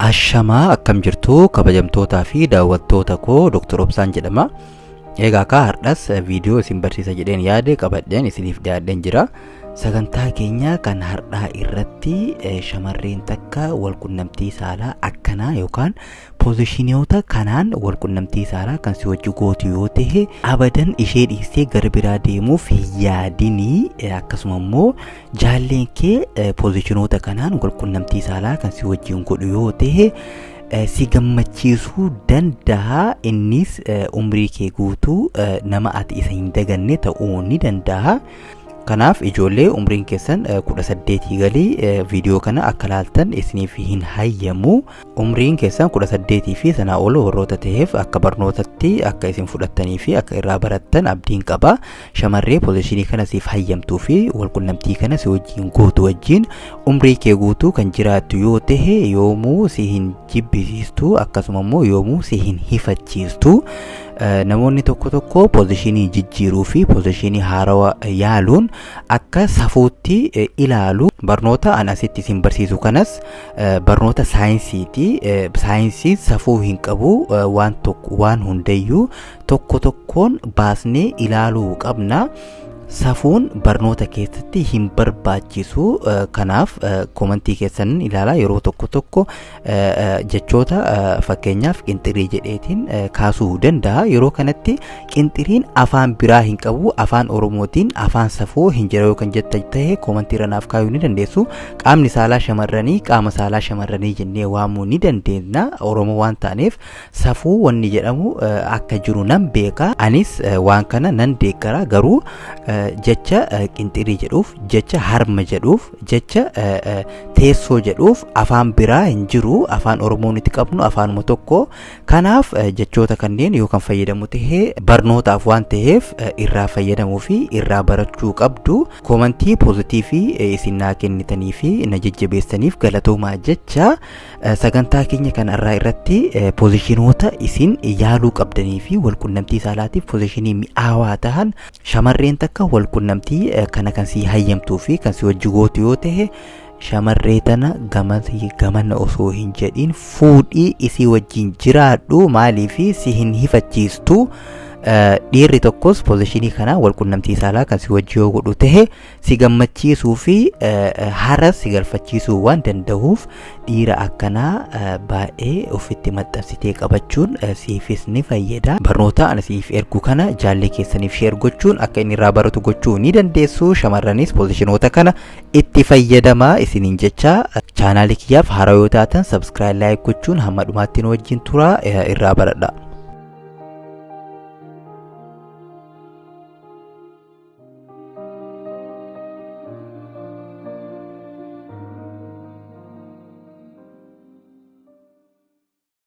Ashamaa akkam jirtu kabajamtootaa fi daawwattoota koo Dr. Obsaan jedhama. Egaa kaa hardhas viidiyoo isin barsiisa jedheen yaade qabadheen isiniif dhiyaadheen jira. Sagantaa keenya kan hardhaa irratti eh, shamarreen takka wal qunnamtii saalaa akkanaa yookaan Poozishiniyoota kanaan walqunnamtii saalaa kan si wajji gootu yoo ta'e abadan ishee dhiistee gara biraa deemuuf hin yaadinii eh, akkasuma immoo jaalleen kee eh, poozishinoota kanaan walqunnamtii saalaa kan si wajjin godhu yoo ta'e eh, si gammachiisuu danda'a innis eh, umrii kee guutuu eh, nama ati isa hin daganne ta'uu ni danda'a. Kanaaf ijoollee umriin keessan eh, 18 galii eh, viidiyoo kana akka laaltan isiniif hin hayyamu. Umriin keessan 18 fi sanaa ol warroota ta'eef akka barnootatti akka isin fudhattanii fi akka irraa barattan abdiin qaba. Shamarree pozishinii kana siif hayyamtuu fi walqunnamtii kana si wajjin gootu wajjin umrii kee guutuu kan jiraattu yoo ta'e yoomuu si hin jibbisiistu akkasuma immoo yoomuu si hin hifachiistu. Namoonni tokko tokko pozishinii jijjiiruu fi pozishinii haarawa yaaluun akka safuutti ilaalu barnoota an asitti isin barsiisu kanas barnoota saayinsiiti saayinsiin safuu hin qabu waan tokko waan hundayyuu tokko tokkoon baasnee ilaaluu qabna safuun barnoota keessatti hin barbaachisu kanaaf komantii keessan ilaalaa yeroo tokko tokko jechoota fakkeenyaaf qinxirii jedheetiin kaasuu danda'a yeroo kanatti Qinxiriin afaan biraa hin qabu afaan oromootiin afaan safoo hin jira yoo kan jetta ta'e koomantii irra naaf kaayuu ni dandeessu qaamni saalaa shamarranii qaama saalaa shamarranii jennee waamuu ni dandeenya oromoo waan taaneef safuu wanni jedhamu eh, akka jiru nan beeka anis eh, waan kana nan deeggara garuu eh, jecha eh, qinxirii jedhuuf jecha harma jedhuuf jecha eh, eh, teessoo jedhuuf afaan biraa hin jiru afaan oromoo nuti qabnu afaanuma tokko Kanaaf jechoota kanneen yoo kan fayyadamu ta'e barnootaaf waan ta'eef irraa fayyadamuu fi irraa barachuu qabdu. Koomantii poozitiivii isin naa kennitanii fi na jajjabeessaniif galatoomaa jecha sagantaa keenya kan irraa irratti poozishinoota isin yaaluu qabdanii fi walqunnamtii saalaatiif poozishinii mi'aawaa tahan shamarreen takka walqunnamtii kana kan si hayyamtuu fi kan si wajji gootu yoo ta'e Shamarree tana gamas gamana osoo hin jedhin fuudhii isii wajjin jiraadhu maaliif si hin hifachiistu Eh, dhiirri tokkos pozishinii kana walqunnamtii saalaa kan si wajji yoo godhu tahe si gammachiisuu fi eh, eh, haras si galfachiisuu waan dandahuuf dhiira akkanaa eh, baay'ee ofitti maxxansitee qabachuun eh, siifis ni fayyada barnoota ani siif ergu kana jaallee keessaniif sheer gochuun akka inni irraa baratu gochuu ni dandeessu shamarranis pozishinoota kana itti fayyadamaa isiniin jecha chaanaalii kiyyaaf haaraa yoo taatan sabskiraayib laayik gochuun hamma dhumaatti nu wajjin turaa eh, irraa baradha.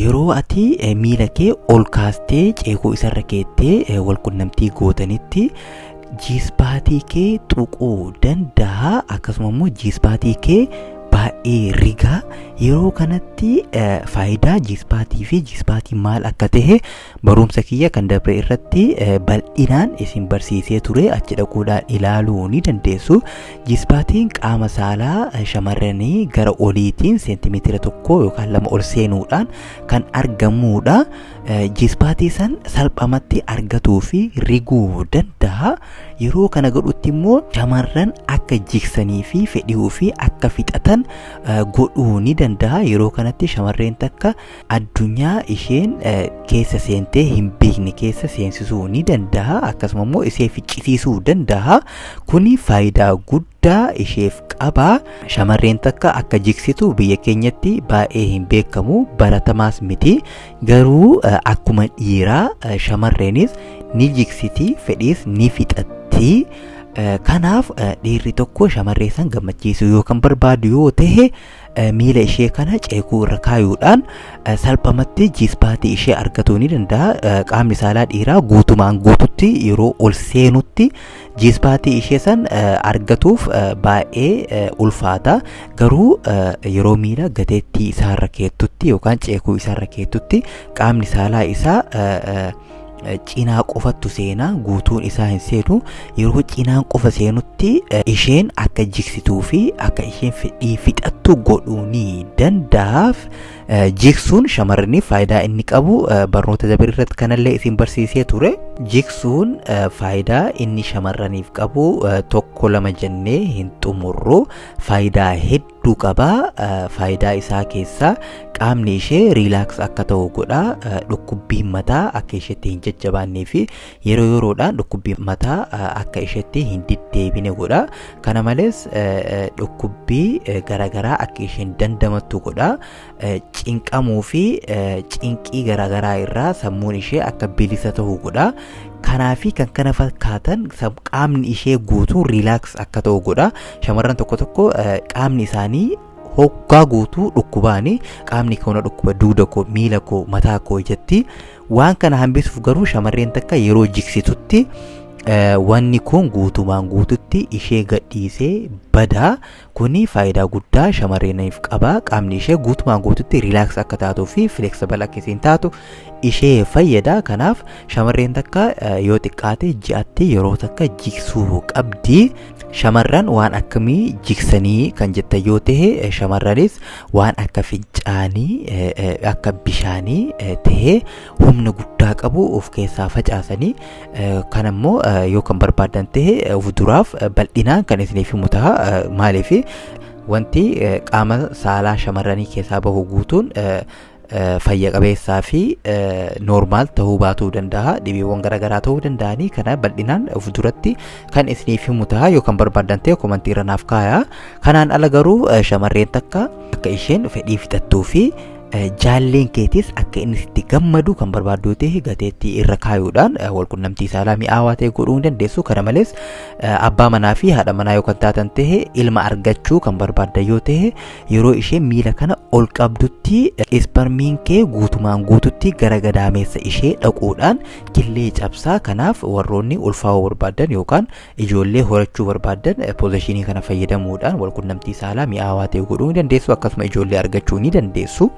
Yeroo ati eh, miila kee ol kaastee ceekoo isarra keettee eh, wal qunnamtii gootanitti jiispaatii kee tuquu danda'a akkasuma immoo jiispaatii kee baay'ee rigaa yeroo kanatti eh, faayidaa jiispaatii fi jiispaatii maal akka ta'e barumsa kiyya kan dabre irratti eh, bal'inaan isin barsiisee ture achi dhaquudhaan ilaaluu ni dandeessu Jisbaatiin qaama saalaa shamarranii gara oliitiin seentimeetira tokko yookaan lama ol seenuudhaan kan argamuudha. Jisbaatii san salphamatti argatuu fi riguu danda'a. Yeroo kana godhutti immoo shamarran akka jiksanii fi fedhii ofii akka fixatan godhuu ni danda'a. Yeroo kanatti shamarreen takka addunyaa isheen keessa seentee hin beekne keessa seensisuu ni danda'a akkasuma immoo ishee ficcisiisuu danda'a kuni faayidaa guddaa isheef qaba shamarreen takka akka jiksitu biyya keenyatti baay'ee hin beekamu baratamaas miti garuu akkuma dhiiraa shamarreenis ni jiksiti fedhiis ni fixatti. kanaaf dhiirri tokko shamarree san gammachiisuu yoo kan barbaadu yoo ta'e miila ishee kana ceekuu irra kaayuudhaan salphamatti jiispaatii ishee argatuu ni danda'a. Qaamni saalaa dhiiraa guutumaan guututti yeroo ol seenutti jiispaatii ishee san argatuuf baay'ee ulfaata. Garuu yeroo miila gateettii isaarra keettutti yookaan ceekuu isaarra keettutti qaamni saalaa isaa cinaa qofattu seena guutuun isaa hin seenu yeroo cinaan qofa seenutti isheen akka jigsituu fi akka isheen fedhii fixattu godhuu ni danda'aaf jigsuun shamarraniif faayidaa inni qabu barnoota dabre irratti kanallee isin barsiisee ture jigsuun faayidaa inni shamarraniif qabu tokko lama jennee hin xumurru faayidaa hedduu hedduu qaba faayidaa isaa keessaa qaamni ishee riilaaks akka ta'u godha dhukkubbiin mataa akka isheetti hin jajjabaannee fi yeroo yeroodhaan dhukkubbiin mataa akka isheetti hin deddeebine godha kana malees dhukkubbii garaagaraa akka isheen dandamattu godha cinqamuu fi cinqii garaagaraa irraa sammuun ishee akka bilisa ta'u godha. Kanaa fi kan kana fakkaatan qaamni ishee guutuu riilaaks akka ta'u godha. Shamarran tokko tokko qaamni isaanii hoggaa guutuu dhukkubaani qaamni koo na dhukkuba duuda koo miila koo mataa koo ijatti waan kana hambisuuf garuu shamarreen takka yeroo jiksitutti wanni kun guutumaan guututti ishee gadhiisee badaa Kuni faayidaa guddaa shamarreeniif qaba. Qaamni ishee guutumaan guututti riilaaks akka taatuu fi fileksibal akka isiin taatu ishee fayyada. Kanaaf shamarreen takka eh, yoo xiqqaate ji'atti yeroo takka jiksuu qabdi. Shamarran waan akkamii jiksanii kan jettan yoo ta'e eh, shamarranis waan akka fincaanii eh, eh, akka bishaanii eh, ta'ee humna guddaa qabu of keessaa facaasanii kan ammoo yoo kan barbaadan ta'e of duraaf bal'inaan kan isiniif himu ta'a maaliif wanti qaama saalaa shamarranii keessaa bahu guutuun fayya qabeessaa fi noormaal ta'uu baatuu danda'a dhibeewwan garaagaraa ta'uu danda'anii kana bal'inaan of duratti kan isiniif himu ta'a yoo kan barbaadan ta'e komantii irra naaf kaaya kanaan ala garuu shamarreen takka akka isheen fedhii fixattuu fi jaalleen keetis akka inni sitti gammadu kan barbaaddu yoo ta'e gateettii irra kaayuudhaan walqunnamtii saalaa mi'aawaa ta'e godhuu ni dandeessu kana malees abbaa manaa fi haadha manaa yoo kan taatan ta'e ilma argachuu kan barbaaddan yoo ta'e yeroo ishee miila kana ol qabdutti isparmiin kee guutumaan guututti gara gadaameessa ishee dhaquudhaan killee cabsaa kanaaf warroonni ulfaa'uu barbaadan yookaan Ijoollee horachuu barbaaddan poozishinii kana fayyadamuudhaan walqunnamtii saalaa mi'aawaa ta'e godhuu ni dandeessu akkasuma ijoollee argachuu ni dandeessu.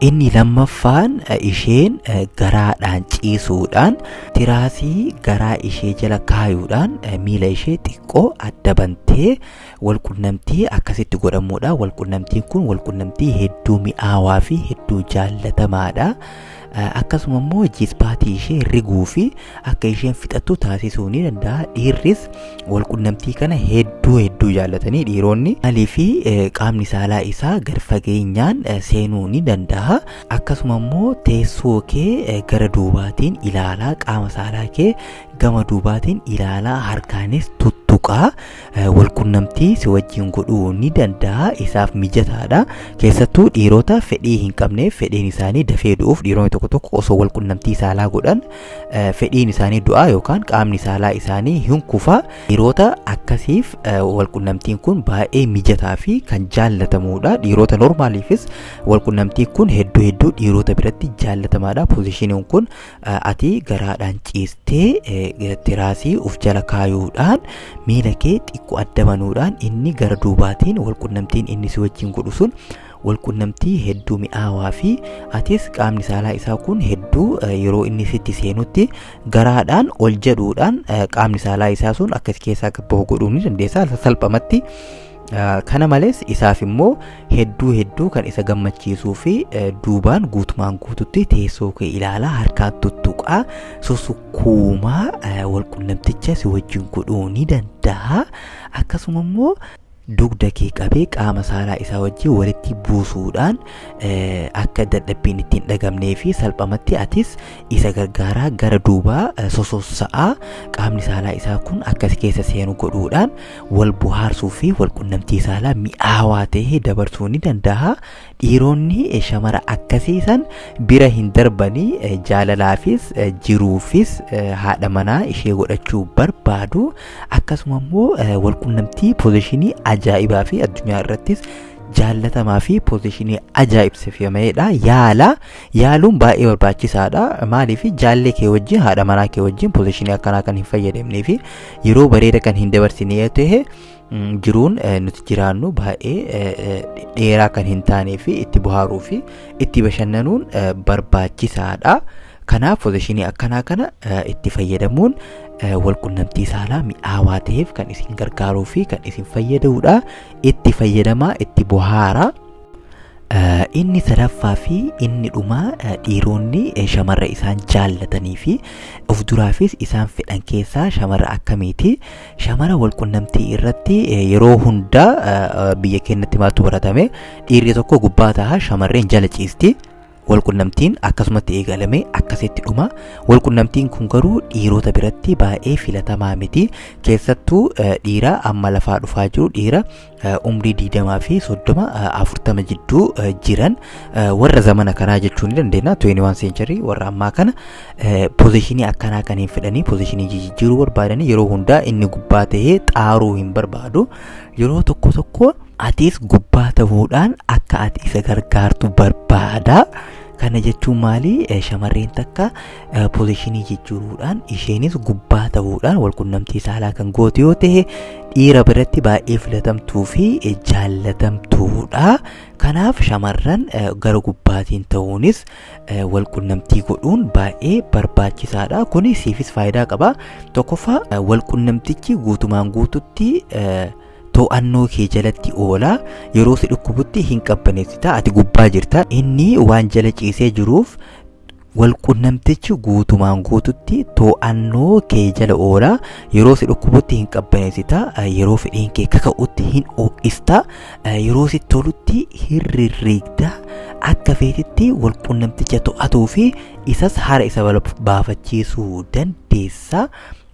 Inni lammaffaan isheen garaadhaan ciisuudhaan tiraasii garaa ishee jala kaayuudhaan miila ishee xiqqoo adda bantee Walqunnamtii akkasitti godhamuudha. Walqunnamtiin kun walqunnamtii hedduu mi'aawaa fi hedduu jaallatamaadha. Akkasuma immoo jispaatii ishee riguu fi akka isheen fixattu taasisuu ni danda'a. Dhiirris walqunnamtii kana hedduu hedduu jaallatanii dhiironni alii fi qaamni saalaa isaa gad fageenyaan seenuu ni danda'a. Akkasuma immoo teessoo kee gara duubaatiin ilaalaa qaama saalaa kee gama duubaatiin ilaalaa harkaanis tuttuqaa. walqunnamtii si wajjin godhuu ni danda'a isaaf mijataadha keessattuu dhiirota fedhii hin qabneef fedhiin isaanii dafee du'uuf dhiironni tokko tokko osoo walqunnamtii saalaa godhan fedhiin isaanii du'aa yookaan qaamni saalaa isaanii hin kufaa dhiirota akkasiif walqunnamtiin kun baay'ee mijataa fi kan jaallatamuudha dhiirota normaaliifis walqunnamtiin kun hedduu hedduu dhiirota biratti jaallatamaadha poozishiniin kun ati garaadhaan ciistee eh, tiraasii uf jala kaayuudhaan miila kee xiqqoo adda banuudhaan inni gara duubaatiin walqunnamtiin inni si wajjin godhu sun walqunnamtii hedduu mi'aawaa fi atis qaamni saalaa isaa kun hedduu eh, yeroo inni sitti seenutti garaadhaan ol jedhuudhaan eh, qaamni saalaa isaa sun akka si keessaa gabbahu godhuu ni dandeessa salphamatti Kana malees isaaf immoo hedduu hedduu kan isa gammachiisuu fi duubaan guutumaan guututti teessoo kee ilaalaa harkaan tuttuqaa susukkuumaa walqunnamticha si wajjin godhuu ni danda'a. Akkasuma immoo dugda kee qabee qaama saalaa isaa wajjin walitti buusuudhaan akka dadhabbiin ittiin dhagamnee fi salphamatti atis isa gargaaraa gara duubaa sosossa'aa qaamni saalaa isaa kun akkas keessa seenu godhuudhaan wal bohaarsuu fi wal qunnamtii saalaa mi'aawaa ta'e dabarsuu ni danda'a. Dhiironni eh, shamara akkasii san bira hin darbanii eh, jaalalaafis eh, jiruufis eh, haadha manaa ishee godhachuu barbaadu. Akkasuma immoo eh, wal qunnamtii poozishinii ajaa'ibaa fi addunyaa irrattis jaallatamaa fi poozishinii ajaa'ibsifameedha. Yaala yaaluun baay'ee barbaachisaadha. Maaliif jaallee kee wajjin haadha manaa kee wajjin poozishinii akkanaa kan hin fayyadamnee fi yeroo bareeda kan hin dabarsine yoo ta'e jiruun nuti jiraannu baay'ee dheeraa kan hin taanee fi itti bohaaruu fi itti bashannanuun barbaachisaadha. Kanaaf pozishinii akkanaa kana itti fayyadamuun walqunnamtii saalaa mi'aawaa ta'eef kan isin gargaaruu fi kan isin fayyadudha. Itti fayyadamaa itti bohaaraa. Inni sadaffaa fi inni dhumaa dhiironni shamarra isaan jaallatanii fi of duraafis isaan fedhan keessaa shamarra akkamiiti? Shamara walqunnamtii irratti yeroo hundaa biyya keenyatti maaltu baratame? Dhiirri tokko gubbaa ta'a shamarreen jala ciisti. Walqunnamtiin akkasumatti eegalame akkasitti dhuma. Walqunnamtiin kun garuu dhiirota biratti baay'ee filatamaa miti. Keessattuu eh, dhiira amma lafaa dhufaa jiru dhiira eh, umrii 20 fi 30 eh, 40 jidduu eh, jiran eh, warra zamana kanaa jechuu ni dandeenya 21 century warra ammaa kana eh, pozishinii akkanaa kan hin fedhanii pozishinii jijjiiruu barbaadanii yeroo hundaa inni gubbaa ta'ee xaaruu hin barbaadu yeroo tokko tokko Atis gubbaa ta'uudhaan akka ati isa gargaartu barbaada. Kana jechuun maali? Eh, Shamarreen takka eh, pozishinii jijjiiruudhaan isheenis gubbaa ta'uudhaan walqunnamtii saalaa kan gootu yoo ta'e dhiira biratti baay'ee filatamtuu fi eh, jaallatamtuudha. Kanaaf shamarran eh, gara gubbaatiin ta'uunis eh, walqunnamtii godhuun baay'ee barbaachisaadha. Kuni siifis faayidaa qaba. Tokkoffaa eh, walqunnamtichi guutumaan guututti eh, to'annoo kee jalatti oola yeroo si dhukkubutti hin qabbaneessita ati gubbaa jirta inni waan jala ciisee jiruuf walqunnamtichi guutumaan guututti to'annoo kee jala oola yeroo si dhukkubutti hin qabbaneessita yeroo fedhiin kee kaka'utti hin ho'ista yeroo si tolutti hin rirriigda akka feetitti walqunnamticha to'atuu fi isas haara isa baafachiisuu dandeessa.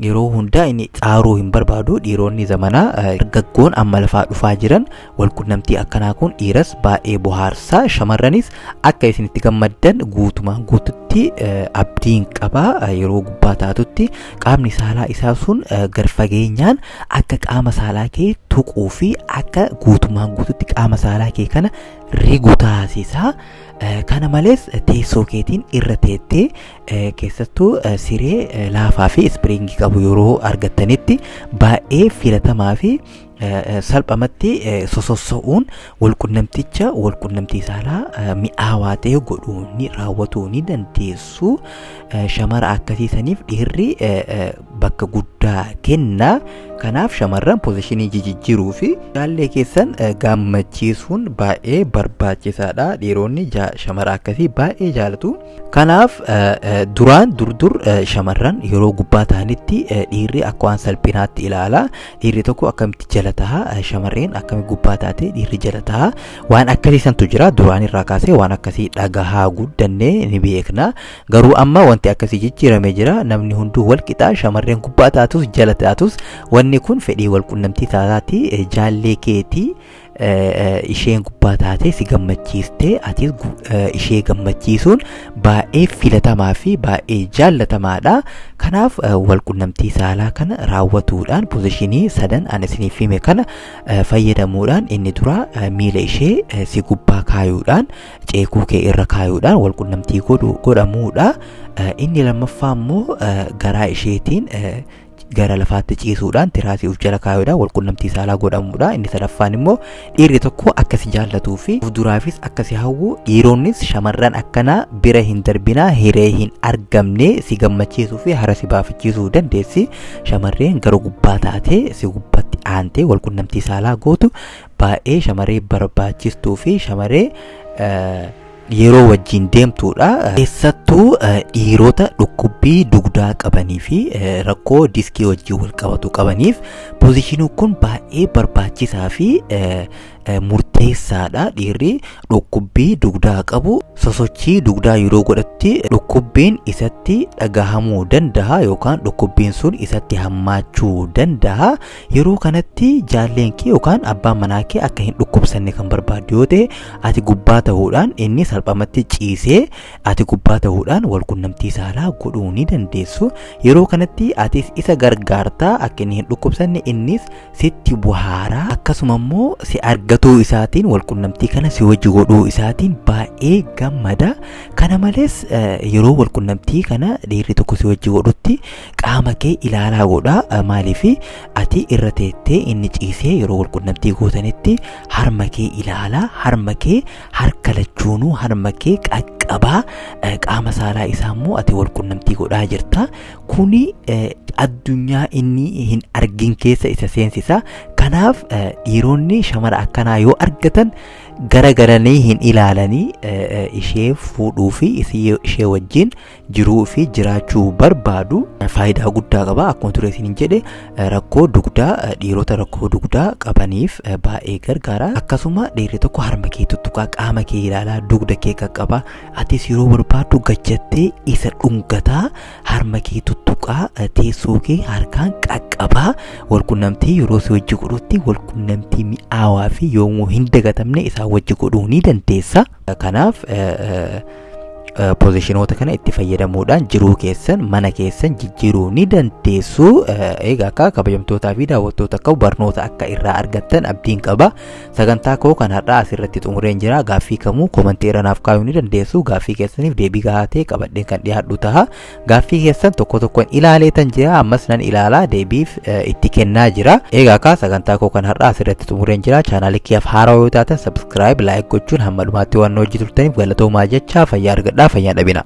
yeroo hundaa inni xaaruu hin barbaadu dhiironni zamanaa dargaggoon amma lafaa dhufaa jiran walqunnamtii akkanaa kun dhiiras baay'ee bohaarsaa shamarranis akka isin itti gammaddan guutumaan guututti abdiin qabaa yeroo gubbaa taatutti qaamni saalaa isaa sun gad fageenyaan akka qaama saalaa kee tuquu fi akka guutumaan guututti qaama saalaa kee kana rigu taasisaa kana malees teessoo keetiin irra teettee Eh, keessattuu eh, siree eh, laafaa fi ispiriingii qabu yeroo argattanitti baay'ee filatamaa fi eh, eh, salphamatti eh, sosossa'uun walqunnamticha walqunnamtii saalaa eh, mi'aawaa ta'e godhuu ni raawwatuu ni dandeessu Eh, shamara akkasii saniif dhiirri eh, eh, bakka guddaa kenna kanaaf shamarran pozishinii jijijjiiruu fi jaallee keessan eh, gammachiisuun baay'ee barbaachisaadha dhiironni ja- shamara akkasii baay'ee jaalatu Kanaaf duraan durdur shamarran yeroo gubbaa ta'anitti dhiirri akka waan salphinaatti ilaala. Dhiirri tokko akkamitti jala taha shamarreen akkami gubbaa taate dhiirri jala taha waan akkasii santu jira duraan irraa kaasee waan akkasii dhagahaa guddannee ni beekna. Garuu amma wanti akkasii jijjiiramee jira namni hunduu wal qixaa shamarreen gubbaa taatus jala taatus wanni kun fedhii wal qunnamtii taataati jaallee keetii isheen gubbaa taatee si gammachiistee atis ishee gammachiisuun baay'ee filatamaa fi baay'ee jaallatamaadha. Kanaaf walqunnamtii saalaa kana raawwatuudhaan pozishinii sadan ani isiniif hime kana fayyadamuudhaan inni dura miila ishee si gubbaa kaayuudhaan ceekuu kee irra kaayuudhaan walqunnamtii godhamuudha. Inni lammaffaa immoo garaa isheetiin gara lafaatti ciisuudhaan tiraasii of jala kaayuudhaan walqunnamtii saalaa godhamuudha. Inni sadaffaan immoo dhiirri tokko akka si jaallatuu fi of duraafis akka si hawwu dhiironnis shamarran akkanaa bira hin darbinaa hiree hin argamne si gammachiisuu fi hara si baafachiisuu dandeessi. Shamarreen gara gubbaa taatee si gubbatti aantee walqunnamtii saalaa gootu baay'ee shamarree barbaachistuu fi shamarree yeroo wajjin deemtuudha. Keessattuu dhiirota dhukkubbii dugdaa qabanii fi rakkoo diskii wajjin wal qabatu qabaniif pozishiniin kun baay'ee barbaachisaa fi murteessaadha. Dhiirri dhukkubbii dugdaa qabu sosochii dugdaa yeroo godhatti dhukkubbiin isatti dhagahamuu danda'a yookaan dhukkubbiin sun isatti hammaachuu danda'a. Yeroo kanatti jaalleen kee yookaan abbaan manaa kee akka hin dhukkubsanne kan barbaaddu yoo ta'e ati gubbaa ta'uudhaan inni salphamatti ciisee ati gubbaa ta'uudhaan wal qunnamtii saalaa godhuu ni dandeessu. Yeroo kanatti atis isa gargaartaa akka inni hin dhukkubsanne innis sitti buhaaraa akkasuma immoo si argatuu isaatiin wal qunnamtii kana si wajji godhuu isaatiin baay'ee gammada. Kana malees yeroo wal qunnamtii kana dhiirri tokko si wajji godhutti qaama kee ilaalaa godha maaliif ati irra teettee inni ciisee yeroo walqunnamtii gootanitti harma kee ilaalaa harma kee harka lachuunuu harma kee qaqqabaa qaama saalaa isaa immoo ati walqunnamtii godhaa jirta kuni addunyaa inni hin argin keessa isa seensisa kanaaf dhiironni shamara akkanaa yoo argatan gara garanii hin ilaalanii ishee fuudhuu fi ishee wajjin jiruu fi jiraachuu barbaadu faayidaa guddaa qaba akkuma ture isin jedhe rakkoo dugdaa dhiirota rakkoo dugdaa qabaniif baay'ee gargaara akkasuma dhiirri tokko harma kee tuttuqaa qaama kee ilaalaa dugda kee qaqqabaa atis yeroo barbaaddu gajjattee isa dhungataa harma kee tuttuqaa teessoo kee harkaan qaqqabaa walqunnamtii yeroo si wajji godhutti walqunnamtii mi'aawaa fi yoomuu hin dagatamne isaa wajji godhuu ni dandeessa. Kanaaf pozishinoota kana itti fayyadamuudhaan jiruu keessan mana keessan jijjiiruu ni dandeessu. Egaa akka kabajamtootaa fi daawwattoota akka barnoota akka irraa argattan abdiin qaba. Sagantaa koo kan har'aa asirratti xumureen jira. Gaaffii kamuu komantii irra naaf kaa'uu ni dandeessu. Gaaffii keessaniif deebii gahaa ta'e qabadheen kan dhiyaadhu taha. Gaaffii keessan tokko tokkoon ilaalee tan jira ammas nan ilaalaa deebiif itti kennaa jira. Egaa kaa sagantaa koo kan har'aa asirratti xumureen jira. Chaanaalii kiyyaaf haaraa yoo taatan sabskiraayib laayik gochuun hamma dhumaatti waan hojii turtaniif galatoomaa jechaa fayyaa argadhaa fayyaa dhabinaa.